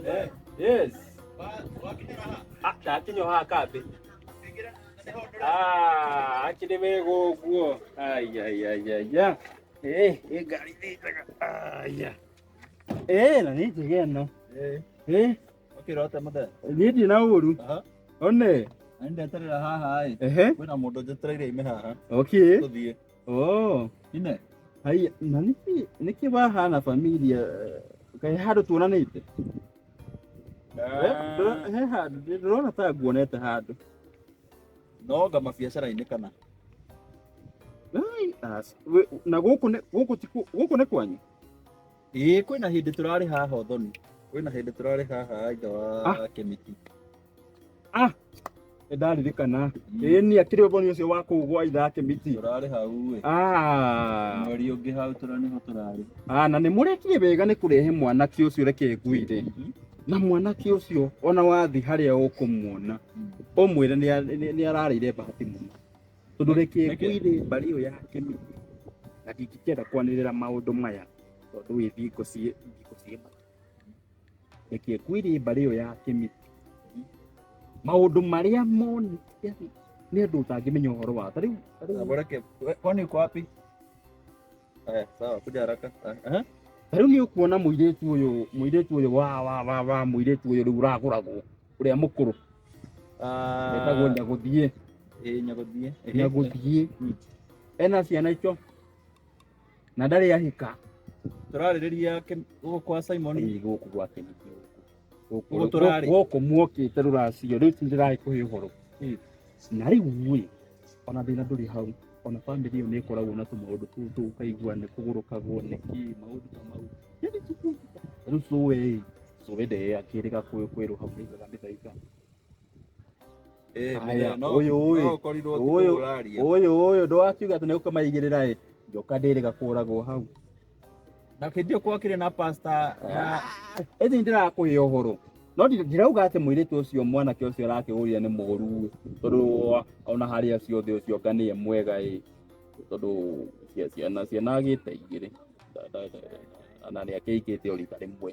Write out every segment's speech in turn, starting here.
Eh, yes. Ah, ndakinywo haha kambĩ Ah, akĩrĩ wega ũguo aiaiaiaia Eh, ĩ ngari nĩ njega aia Eh, na nĩ njega ĩno Eh, Ũkĩrota mũthee. niĩ ndirĩ na ũru Aha. one Na nĩ ndeterera haha ĩ. ehe Kwĩna mũndũ njetereire ime haha. okay Tũthiĩ. Oh, ine hai na niki niki bahana familia kai handu tuonanite Ah, Ndĩrona- he handu ndĩrona ta nguonete handu no nga mabiacara-inĩ kana Ai, as- we- na gũkũ nĩ- gũkũ ti kũ- gũkũ nĩ kwanyu ĩĩ kwĩna hĩndĩ tũrarĩ haha ũthoni kwĩna hĩndĩ tũrarĩ haha ithe wa Ah. kemiti Ah, ndaririkana ĩĩ niĩ akĩrĩ ũboni ũcio wa kũgwa ithake miti Tũrarĩ hau ĩ. Ah, Mweri ũngĩ hau tũra nĩho tũrarĩ. ah, na nĩ mũrekire wega nĩ kũrehe mwanake ũcio reke ngwĩre na mwanake ũcio ona wathiĩ harĩa ũkũmuona ũmwĩre nĩ a- nĩ- nĩ ararĩire bahati mũno tondũ reke Reke. ngwĩre mbarĩ ĩyo yake mĩingĩ na ndingĩkenda kwanĩrĩra maũndũ maya tondũ wĩ thingo ciĩ thingo ciĩ reke ngwĩre mbarĩ ĩyo ya kĩmiti maũndũ marĩa moni yaani, nĩ andũ ũtangĩmenya ũhoro wa ta rĩu ta rĩu- Bora ke. Kwani uko wapi? Haya, sawa, kuja haraka. Aha. ta rĩu nĩ ũkuona mũirĩtu ũyũ mũirĩtu ũyũ wa wa wa wa mũirĩtu ũyũ rĩu ũragũragwo ũrĩa mũkũrũ etagwo Ah, nyagũthiĩ eh, nyagodie. Eh, nyagũthiĩ Mm. ena ciana icio na ndarĩ ahika turarĩrĩria guku kwa Simon Ĩĩ, gũkũ gwake nĩ kĩũkũ. Gũkũ- Gũkũ tũrarĩ. gũkũ muokĩte rũracio rĩu tindĩraĩ kũhe ũhoro Ĩĩ. na rĩu ĩ ona thĩna ndũrĩ hau ona bamĩrĩ ĩyo nĩ ĩkoragwo na tũmaũndũ tũu tũu ũkaigua nĩ kũgũrũkagwo nĩ kĩ maũndũ ta mau Yaani tu- tu- rĩu cũwe ĩ cũwe ndee akĩrĩga kwĩrũha mũigaga mĩthaiga Eh, Haya, mũthee, no- ũyũ ũyũ. no ũkorirwo ti Ũyũ. kũgũra aria. ũyũ ũyũ ndwakiuga atĩ nĩũkũmaigĩrĩra ĩ njoka ndĩrĩ gakũragwo hau na kĩndĩ ũkorwo akĩrĩ na pasta na ĩthi ndĩrakũhe ũhoro no ndi- ndirauga atĩ mũirĩtu ũcio mwanake ũcio arakĩhũria nĩ mũgũru tondũ ona harĩa ciothe ũcio nga nĩye mwega ĩ tondũ cia- ciana ciana agĩte igĩrĩ Na- na- na- na nĩakĩikĩte o rita rĩmwe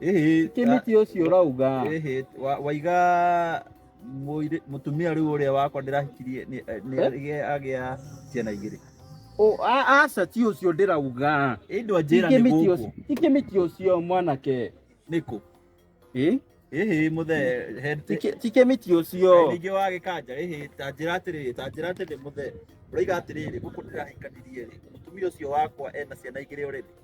Ĩhĩ, kä mä ti å cio rauga ĩhĩ, wa- waiga mũirĩ- mũtumia rĩu ũrĩa wakwa ndĩrahikirie nĩ- eh, nĩ- Eh? agĩa- agĩa ciana igĩrĩ Ũ- a- aca ti å cio ndä rauga ĩndwa njĩra nĩ gũkũ ikä mä ti å cio mwanake nĩkũ Ĩ? ĩhĩ mũthee he- Tikä- tikä mä ti å cio ningĩ wa gĩkanja ĩhĩ ta njĩra atĩrĩrĩ ta njĩra atĩrĩ mũthee ũraiga atĩrĩrĩ gũkũ ndĩrahikanirie rĩ mũtumia ũcio wakwa ena ciana igĩrĩ ũrĩrĩ